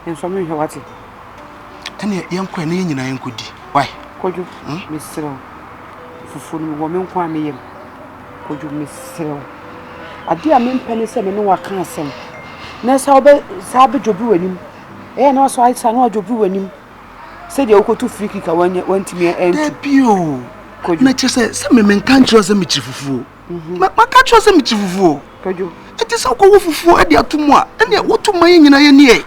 Nsɔ me nhwɛ wate. Ɛne yɛnkɔ ɛne yɛn nyinaa yɛnkɔ di. Why? Kwadwo, hmm? mesrɛ wo. Fufuo no wɔ me nko a me yam. Kwadwo, mesrɛ wo. Adeɛ a mempɛ ne sɛ me ne waka asɛm. Na saa wobɛ saa bɛdwobiri w'anim. Ɛyɛ na wasɔ ayesa na wadwobiri w'anim. Sɛdeɛ wokɔto free kick a wantumi antu. Dabi o. Kwadwo. Na kyerɛ sɛ sɛ me menka nkyerɛ sɛ mekyiri fufuo. Maka akyerɛ wo sɛ mekyi fufuo. Ɛte sɛ wokɔwɔ fufuo de ato mu a, ɛneɛ woto ma yɛ nyina yɛneɛ.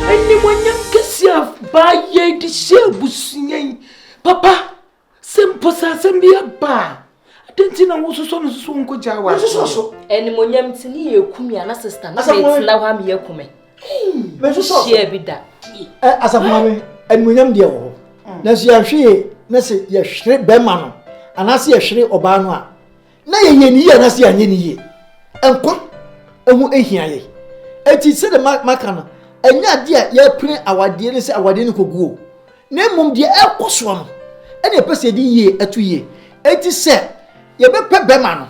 Animuonyam kɛseɛ a baa yei de hyɛɛ abusua yi papa. Sɛ mpo sɛ asɛm bi aba a, adɛn nti na wososɔ no soso nkogyaa wɔ aseɛ? so. Animonyam nti ne yɛ eku mi ana sista na Asafo maame. metena hɔ a meyɛ kume. Mesu sɔsɔ. Hyia bi da. Ɛ asafo maame animonyam deɛ wɔ hɔ nanso yɛanhwɛ yie na sɛ yɛhwere bɛrima no anaasɛ yɛhwere ɔbaa no a na yɛyɛ ne yie anaasɛ yɛanyɛ ne yie nkwa ɛho ahia yɛ ɛti sɛde maka no ɛnyɛ adeɛ a yɛpene awadeɛ no sɛ awadeɛ no kɔguo na mmom deɛ ɛkɔ soɔ no ɛne ɛpɛ sɛ yɛde yie ɛto yie ɛti sɛ yɛbɛpɛ bɛma no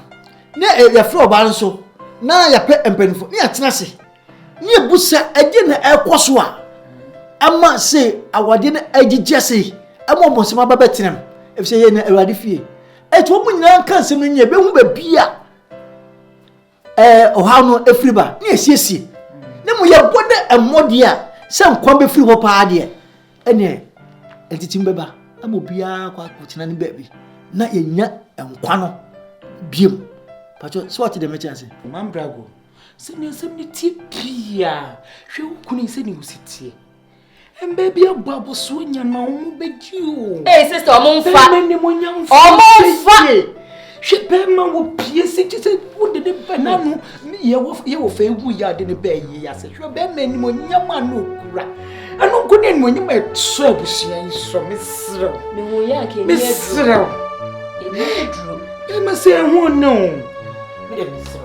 na yɛfrɛ ɔbaa nso na yɛpɛ mpanimfoɔ ne yɛatena ase Ne ebu sɛ ɛdeɛ na ɛrekɔ so a ɛma se awadeɛ no agyigya sei ɛma ɔbɔnsɛm aba bɛtena mu efisɛ yɛ na awurade fie ɛti wɔn nyinaa nka nsɛm no nyɛ bɛhu baabi a ɛɛ ɔhaw no efiri ba ne esiesie ne mu yɛbɔ dɛ mmɔdeɛ a sɛ nkwa bɛfiri hɔ paa deɛ ɛneɛ ntitim bɛba ama obiara kɔ akɔtena ne baabi na yɛnya nkwa no biom patro sɛ wɔte dɛm ɛkyɛ ase mambrago Sɛ nea asɛm no teɛ pii a, hwɛ wo kunu yi sɛnea ɔsi teɛ. Mbɛ bi abɔ abɔsoɔ nya na ɔmo bɛgye o. Ee sista ɔmo nfa. Bɛrima ne mo nya nfa. Ɔmo nfa. Hwɛ bɛrima wɔ pie si gye sɛ wode ne bɛ n'ano yɛwɔ fɛ ewu yɛ ade ne bɛɛ yie ase. Hwɛ bɛrima anim onyam a na okura. Ɛno nko ne anuonyam a ɛsɔ abusua yi sɔ meserew. Mehu yɛ anka ɛni aduro. Meserew. Ɛni aduro. Bɛrima sɛ ɛho ne o. Mede meserew.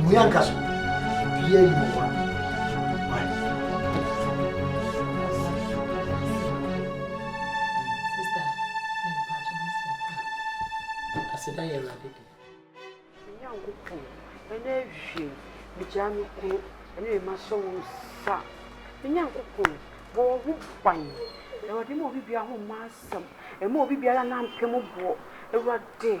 Mmua nka so. Bia yi wɔ hɔ. Aseda yɛ awurade de. Nyankopɔn, ɛnɛ awie, megyaa me kunu ɛne me mma sɛ wɔn sa. Nyankopɔn, bɔ wɔn ho ban. Awurade ma obi biara ho mma asɛm. Ɛma obi biara nampem boɔ. Awurade.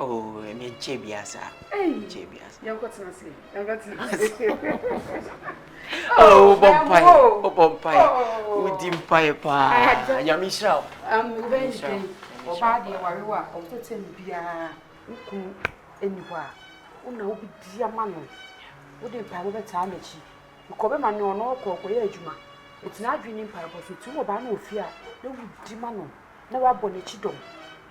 Oh, ɛnɛ nkyɛ bia saa. Nkyɛ bia saa. Yɛn kɔ tena se. Yɛn kɔ tena se. Oh, bɔ mpae. Oh, bɔ mpae. Wodi mpae paa. Nyame nhyira wo. Um, wobɛn den. Ɔbaa deɛ warewa a ɔmpɛtɛm biara wokunu ɛni hɔ a wona wobɛdi ama no wode mpaebɔ bɛtaa n'akyi bikɔ bɛma ne ɔno ɔkɔ ɔkɔyɛ adwuma ɛtina adwene ne mpaebɔ so nti wɔ baa no wɔ fie a na wodi ma no na wabɔ n'akyi dɔm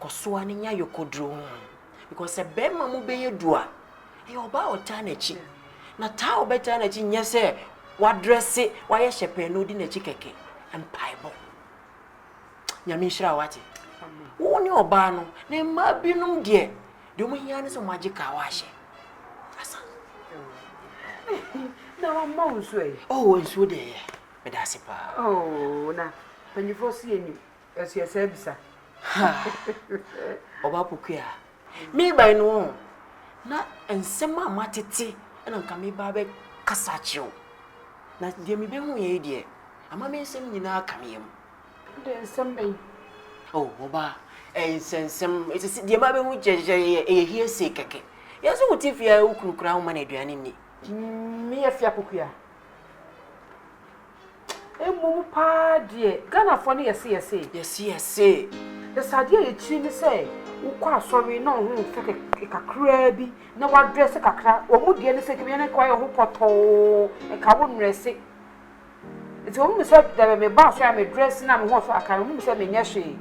kɔso ara nya yɔkɔduro ho because sɛ bɛrima mu bɛyɛ du a ɛyɛ ɔbaa a ɔtaa n'akyi na taa a ɔbɛtaa n'akyi nyɛ sɛ wadrɛse wayɛ hyɛ pɛn na ɔdi n'akyi kɛkɛ mpaebɔ nyame nhyira wate wo ne ɔbaa no na mmaa binom deɛ deɛ ɔmo hia ne sɛ ɔmo agye kaa wahyɛ asa na wama wo nsuo yi ɔwɔ nsuo deɛ yɛ meda ase paa oh na mpanyinfoɔ so yɛ nim Ɛso yɛ saa bisa. Ha! Ɔba Pokua, mebae no ɔn, na nsɛm a matete na nka meba abɛkasa akyerɛ wo. Na deɛ mebehu yɛ yi deɛ, ama me nsɛm nyinaa ka me yam. Deɛ nsɛm bɛn? Oh, ɔba, ɛyɛ nsɛnsɛm. Ɛsɛ sɛ deɛ mabehu kyerɛkyerɛ yɛ ɛyɛ hearsay kɛkɛ. Yɛn so wote fie a wo kunu koraa woma no aduane nni. Meyɛ fia Pokua. Mmom paa deɛ Ghanafoɔ no yɛse yɛse. Yɛse yɛse. Yɛse adeɛ a yɛkyiri ne sɛ wokɔ asɔre na woho fɛ kakraa bi na woadrɛse kakra. Wɔn deɛ ne sɛ kɛmɛ yɛne nka woayɛ woho pɔtɔɔ nka wo nnrɛse. Nti wɔn nim sɛ dabi meba asɔre a medrɛse na meho so akane wɔn nim sɛ menyɛ hwee.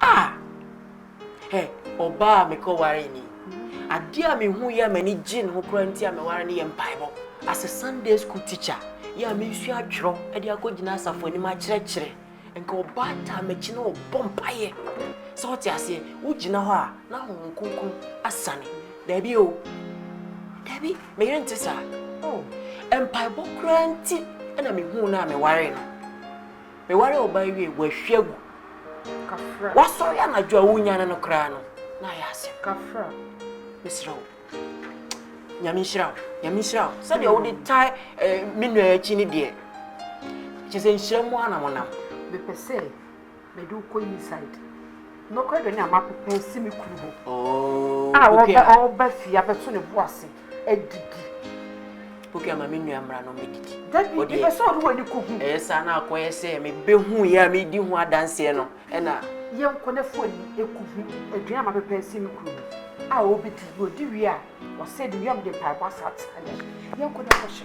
Ah! Hɛ, ɔbaa a mekɔwaree ni. Adeɛ a mehu yɛ a m'ani gye ne ho koraa nti a meware no yɛ mpaebɔ. As a Sunday school teacher, yɛ a mensua atwerɛ de akɔgyina asafo anim akyerɛkyerɛ, nka ɔbaa taa m'akyi na ɔbɔ mpaeɛ. Sɛ wote aseɛ, wogyina hɔ a na Honhom Kronkron asiane. Daabi o. Daabi, me yere nte saa. Oh, mpaebɔ koraa nti na mehuu no a mewaree no. Mewaree ɔbaa yi wiei, wɔahwie agu. Woasɔre anadwo a wonnyane no koraa no, na ayɛ asɛm. Mesrɛ wo, Nyame nhyira wo, Nyame nhyira wo. Sɛdeɛ wode tae eh, me nua akyi no deɛ, kyerɛ sɛ nhyira mu ara na monam. Mepɛ sɛ mede wo kɔ inside. Nokorɛ deɛ Nyame apepa asi me kunu hɔ a ɔreba fie abɛto ne bo ase adidi. Pokia ma me nua mmra na ɔmmɛdidi. Dabi, mepɛ sɛ ɔde w'ani kɔhu. Ɛyɛ saa na akɔyɛ sɛ mebɛhuiɛ a medi ho adanseɛ no na. Yɛnkɔ na fa w'ani kɔhu aduane a mapepa asi me kunu hɔ a ɔrebɛdi. Na ɔdi wie a, ɔsɛ de wie a mede mpaebɔ asatira no. Yɛnkɔ na kɔhyɛ.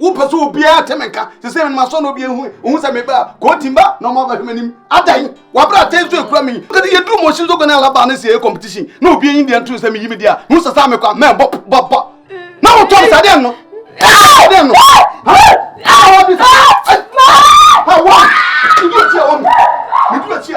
wopɛ sɛ obiara te me nka sɛ sɛ menoma sɔ na obi ehu ohu sɛ meba a kooti mba na ɔma abɛhwɛ m'anim adan wabra atɛn so ekura me kɛde yɛduru mɔhyi nso gɔne alaba ne sɛ ɛyɛ competition na obi enyi deɛ nto sɛ meyi me deɛ a hu sɛ saa mekɔ a mɛ bɔ bɔ bɔ na wotɔ me saa deɛ no deɛ no ha wa medu akyi a wɔ me medu akyi a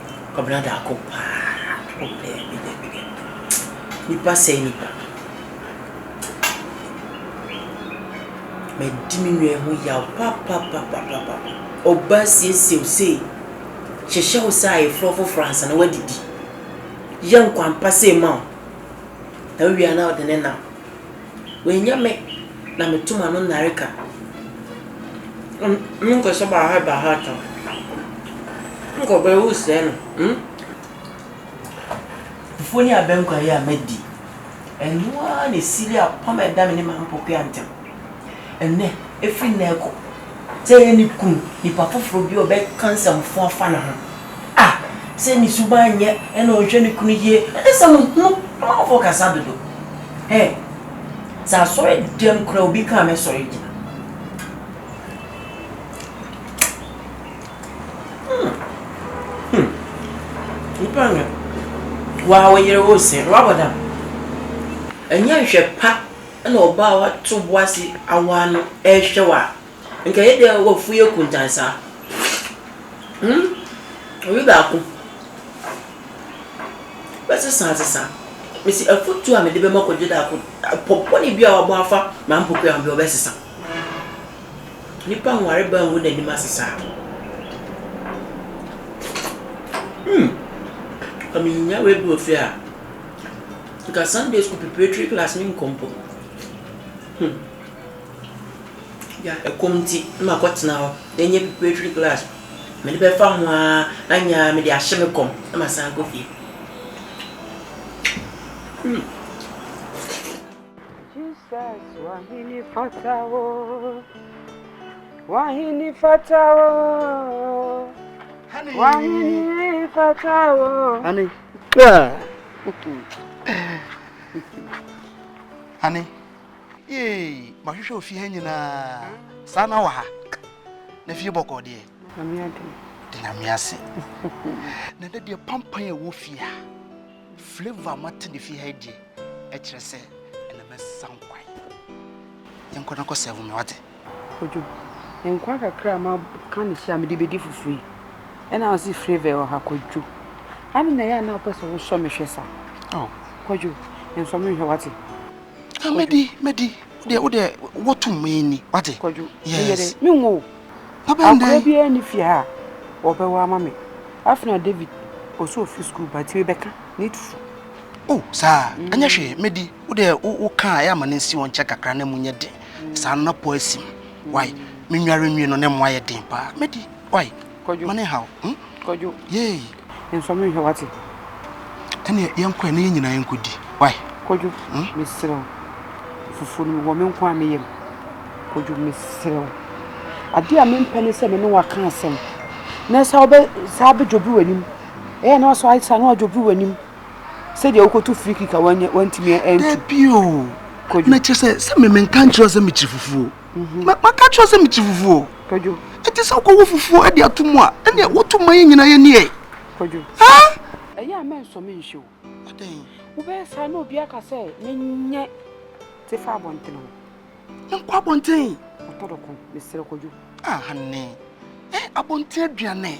Kwabena da ako paa oh daabi daabi daabi nipa sɛe nipa madi me nua yi ho yaw papapapapapa ɔbaa siesie wo sei hyehyɛ wo sɛ ayeforɔ foforɔ ansa na wadidi yɛ nkwanpa sei ma wo na wowie a na wode ne nam Oenya me na meto ma no nnareka. Ɔno no nkɔsɔ baaha baaha ta. Nkɔ bɛ wo sɛɛ no mm. Fufuo ne abɛnkwa yi a madi. Ɛno ara na ɛsili apam a ɛda me ne m'ampɔkoa ntam. Ɛnnɛ, ɛfiri nnɛ rekɔ. Sɛ ɛyɛ ne kunu, nipa foforo bi a ɔbɛka nsɛmfo afa ne ho a, sɛ ne suban nyɛ na ɔnhwɛ ne kunu yie a, ɛne sɛ mo hunu amanfoɔ kasa dodo. He, sɛ asɔre dɛm koraa obi kaa me sɔre gyina. Hmm, hmm, nipa nyɛ. Waa wo yere wo se, wabɔ dam. Ɛnyɛ nhwɛ pa. Nna ɔbaa a ɔato bo ase awaa no rehwɛ wo a, nka ɔyɛ dɛ w'afuw yɛ kuntann saa. Hmm, obi baako bɛsesa asesa. Mese afotu a mede bɛma Kwadwoda ko, pɔ bɔne bi a ɔabɔ afa m'ampokuwa ho bi a ɔbɛsesa. Nyimpa nwarba nngu n'enyim ase saa. Hmm, nka minya w'ebi wɔ fie a. Nka Sunday school preparatory class me nkɔ mpo hmm yeah ɛkɔm nti na makɔ tena hɔ na ɛnyɛ preparatory class mede bɛfa ho aa anyɛ aa mede ahye me kɔm na masan akɔ fie hmm. Jesus wahini fatawo wahini fatawo wahini fatawo Ane, ee, mahwehwɛ ofie ha nyinaa, saa na wɔ ha. Na fie bɔkɔɔ deɛ. De nyame ase. Na dɛ deɛ pampan a ɛwɔ fie ha, flavor a mate ne fie ha deɛ, ɛkyerɛ sɛ ɛna mɛsan kwan. Yɛnkɔ na kɔ sɛvo me wate. Kojo, nkwa kakra a maka na hyia a mede bɛdi fufuo yi, ɛna wo se flavour wɔ ha, Kojo. Ade na ɛyɛ a na wopɛ sɛ wosɔ me hwɛ saa. Oh. Kojo, nsɔ me nhwɛ wate. Ah, mɛdi, mɛdi. Wodeɛ, wodeɛ, wɔtom mɛni, wate. Kojo, meyɛ dɛ, menwo. Akora biara ni fie ha a wɔbɛwɔ ama me. Afei na David, ɔsɛ ɔfiri sukuu ba nti mebɛka, ne tutu. Oh, saa, ɛnyɛ hwee, mɛdi. Wodeɛ, woka a ɛyɛ a ma no nsi wo nkyɛn kakra na ɛmu nyɛ den. Saa no na po asim. Wai, me nware nwi no ne mmoa yɛ den paa. Medi, wai, ma ne nhaw. Hmm? Kwadwo. Yei. Nsɔ me nhwɛ wate. Ɛne yɛnkɔ ɛ na yɛn nyinaa yɛnkɔdi. Wai. Kwadwo, hmm? mesrɛ wo. Fufuo no wɔ me nko a meyam. Kwadwo, mesrɛ wo. Adeɛ a mempɛ ne sɛ me ne waka asɛm. Na saa wobɛ saa bɛdwobiri w'anim. Ɛyɛ na wasɔ ayɛ saa na wadwobiri w'anim. sɛdeɛ wokɔto free kick a wanya wantumi antu. dabi o Kwadwo. na kyerɛ sɛ sɛ me menka nkyerɛ sɛ mekyiri fufuo Ma- maka kyerɛ sɛ mekyiri fufuo Kwadwo, ɛte sɛ wokɔwɔ fufuo de ato mu a ɛneɛ woto ma yɛ nyinaa yɛni ɛ Kwadwo, ha ɛyɛ a mɛnsɔ me nhwɛ o. adɛn Wobɛyɛ saa na obi aka sɛ menyɛ te fa abɔntene hɔ. menkɔ abɔnten Ɔtɔ dɔko, mesrɛ Kwadwo. ah hane eh abɔnten aduane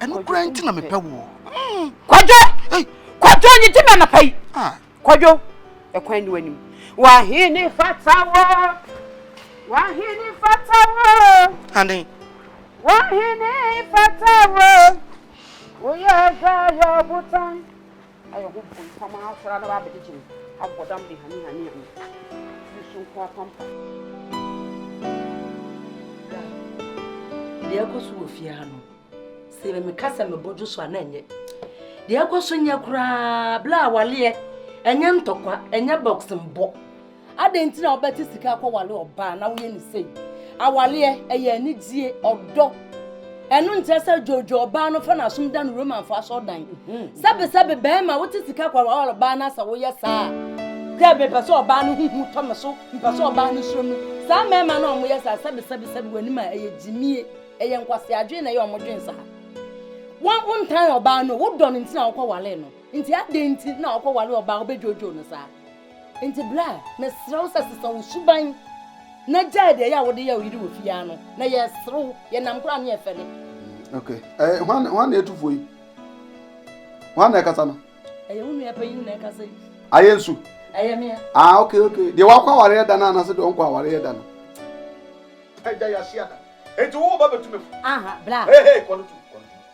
ɛno kura nti na mepɛ woɔ hmm. kwadwo kwadwo nye gye me anapa yi ah. kwadwo ɛkwan ne w'anim wahene fata wo wahene fata wo ane wahene fata wo woyɛ ɔdwa yɛ ɔbotan Ayɛ ho bompam ara koraa na w'abɛgyegye me, abɔ dam de hanehanea me, tiri so nko apampa. Deɛ ɛkɔ so wɔ fie ha no sɛ me meka sɛ mebɔ dwo so a na ɛnyɛ deɛ ɛkɔ so nyɛ koraa bla awaleɛ ɛnyɛ ntɔkwa ɛnyɛ boxing bɔ Adɛn nti na wobɛte sika akɔwale ɔbaa na woyɛ no sei? Awaleɛ, ɛyɛ anigyeɛ, ɔdɔ. Ɛno nkyerɛ sɛ dwoodwoo ɔbaa no fa no asom da no Romanfo asɔrdan. Sɛbesɛbe bɛɛma wote sika akɔwale ɔbaa no a sɛ woyɛ saa a, sɛ mepɛ sɛ ɔbaa no ho hu tɔ me so, mpɛ sɛ ɔbaa no suro me. Saa mɛɛma no a wɔyɛ saa, sɛbesɛbe sɛbe w'anim a, ɛyɛ gyimie. Ɛyɛ nkwasea adwene na ɛyɛ a wɔdwene saa. Wo, wontan ɔbaa no o, wodɔ no nti na wokɔwalee no. Nti adɛn nti na wokɔwale ɔbaa a wobɛdwoodwoo no saa? Enti bra, mesrɛ wo sɛ sesa wo suban na gyae deɛ ɛyɛ a wode yɛ wo yere wɔ fie ara no, na yɛresere wo, yɛ nam koraa ne ɛfɛ ne. Ok, ɛɛ, hwan, hwan na ɛtufoɔ yi? Hwan na ɛkasa no? Ɛyɛ wo nua panyin na ɛkasa yi. Ayɛ nsu? Ɛyɛ mea. Ah, ok, ok, deɛ wakɔ awareɛ da no anaasɛ deɛ ɔnkɔ awareɛ da no? Agya, yɛahyia da, enti wo ba bɛtu me fo. Aha, bra. Hey, hey, kɔ no tu, kɔ no tu.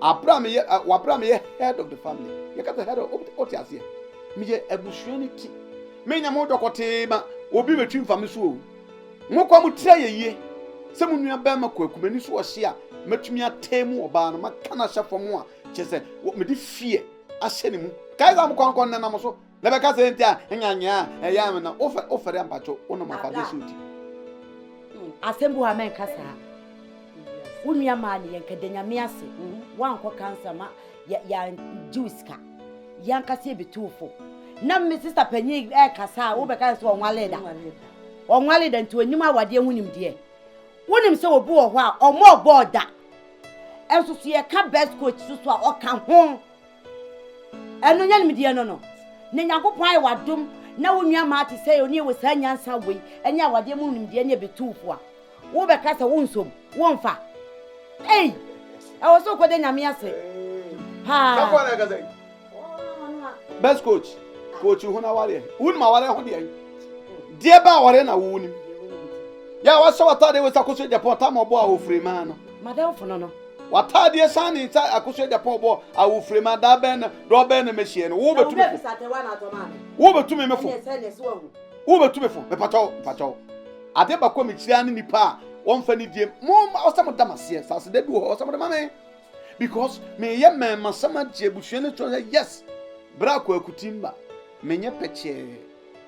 Abra meyɛ ɛ wabra meyɛ head of the family. Yɛka sɛ head of ɔte aseɛ. Meyɛ abusua no ti. Menya mo dɔkɔtee ma obi bɛtwi mfa me so o. Mo kɔ mo tiri ayɛ yie. Sɛ mo nua bɛrima kwaku m'ani so ɔhye a matumi atee mu ɔbaa no maka no ahyɛ fam a kyerɛ sɛ mede fear ahyɛ ne mu. Kae sɛ mo kɔ ankɔ nnɛnam so Na bɛka sɛ enti a nya nyɛ a ɛyɛ ame na wofɛ wofɛre a mpatwo wonom afade so ti. Asɛm bi wɔ ha mɛnka saa. Wo nua maa ne yɛn ka da nyame ase wankɔ kansa ma yɛ yɛ gyew sika yɛn kasa yɛ betu fo na me sista panyin ɛkasa a wobɛka sɛ ɔnwale da ɔnwale da nti onyim awadeɛ ho nimdeɛ wonim sɛ obi wɔ hɔ a ɔmo ɔbɔ ɔda ɛnso so yɛka best coach so so a ɔka ho Ɛno nyɛ nimdeɛ no no. Na Nyankopɔn ayɛ w'adom na wo nua maa te sɛ onii wɔ saa nyansa wei ne awadeɛ mu nimdeɛ ne ɛbɛtuufo a, wobɛka sɛ wonsom, womfa. Ei! Ɛwɔ sɛ wokɔda Nyame ase paa. Best coach, coach ho n'awareɛ. Wonim awareɛ ho deɛ? Deɛ bɛ awareɛ na wonim? Yɛ a wahyɛ w'ataadeɛ wei sɛ akɔsɔ Japan, tam ɔbɔ a ofiri maa no. Madamfo no no. W'ataadeɛ san ne nsa akosua Japan ɔbɔ awofrem a da bɛn na dɔ bɛn na mɛhyia no wo bɛtumi fo wo bɛtumi me fo wo bɛtumi fo mepatɔ mepatɔ adeɛ bakɔ mekyira ne nipa a wɔmfa ne die mo ɔsɛ mo dam aseɛ saase da bi wɔ hɔ ɔsɛ mo de ma me because meyɛ mɛma sɛm agye abusua ne sɛ yes berɛ akɔ akutimba menyɛ pɛkyɛɛ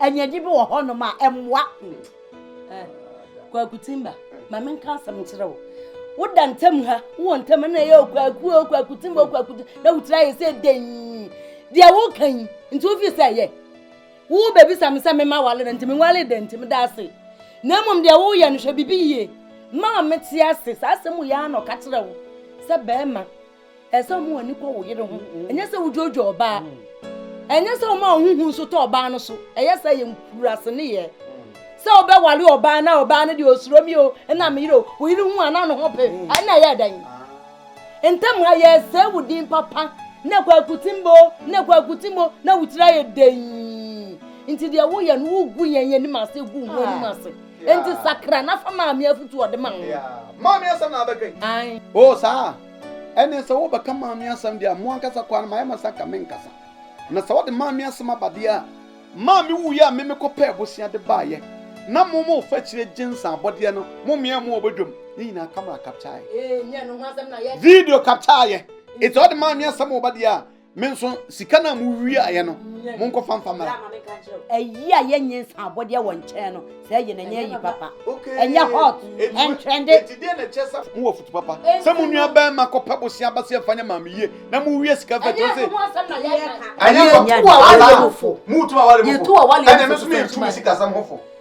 Anyaagye bi wɔ hɔnom a ɛmmoa. Kwaku Timba, ma menka asɛm nkyerɛ wo. Woda ntam ha, wowɔ ntam na ɛyɛ okwaku o, kwaku Timba o, kwaku na wotiri ayɛ sɛ dɛn. Deɛ woka yi, nti wofi sɛ ɛyɛ. Wo baabi sa me sɛ mema wale no, nti menwale dɛn nti meda ase. Na mmom deɛ woyɛ no hwɛ bibi yie. Maa mete ase, saa asɛm yɛ ara na ɔka kyerɛ wo sɛ bɛrima Ɛsɛ sɛ wɔn ani kɔ wo yere ho. Ɛnyɛ sɛ wodwoodwo ɔbaa. Ɛnyɛ sɛ wɔma wɔn ho nso tɔ ɔbaa no so. Ɛyɛ sɛ yɛ nkuraase ne yɛ. Sɛ wobɛware ɔbaa na ɔbaa no deɛ osuro mi o, ɛna me yere o, wo yere hu a na ne ho pe, ɛna ɛyɛ dɛn? Ntam ha yɛresɛe wo din papa na kwaku timbo na kwaku timbo na wo tiri ayɛ dɛn? Nti deɛ woyɛ no wogu yɛn anim ase gu ho anim ase. Nti sakra na fa maame afutu ɔde ma ho. Maame asɛm na abɛdwen. O saa. Ɛnneɛ sɛ wobɛka maame asɛm deɛ a, mo ankasa kɔ ara na mayɛ ma sɛ anka menkasa. Na sɛ wode maame asɛm aba deɛ a, maame wuiɛ a me mekɔpɛɛ bosea de baeɛ, na mo mo fa akyire gye nsa abɔdeɛ no, mo mmeaɛ mo wɔ badwam, ne nyinaa camera captureɛ. Video captureɛ. Enti ɔde maame asɛm reba deɛ a, me nso sika no a mowiaeɛ no monkɔfa mfa mmara ayi a yɛnyɛ nsa abɔdeɛ wɔ nkyɛn no sɛ ɛyɛ na ɛnyɛ ayi papa ɛnyɛ hot ɛntrɛnde mowɔ foto papa sɛ mo nua bɛrima kɔpɛ bose aba sɛ ɛfa nyɛ maame yie na mowie sika fɛ kyerɛ sɛ ɛnyɛ sɛ moto awale mofo ɛne me so mentumi sikasɛm hofo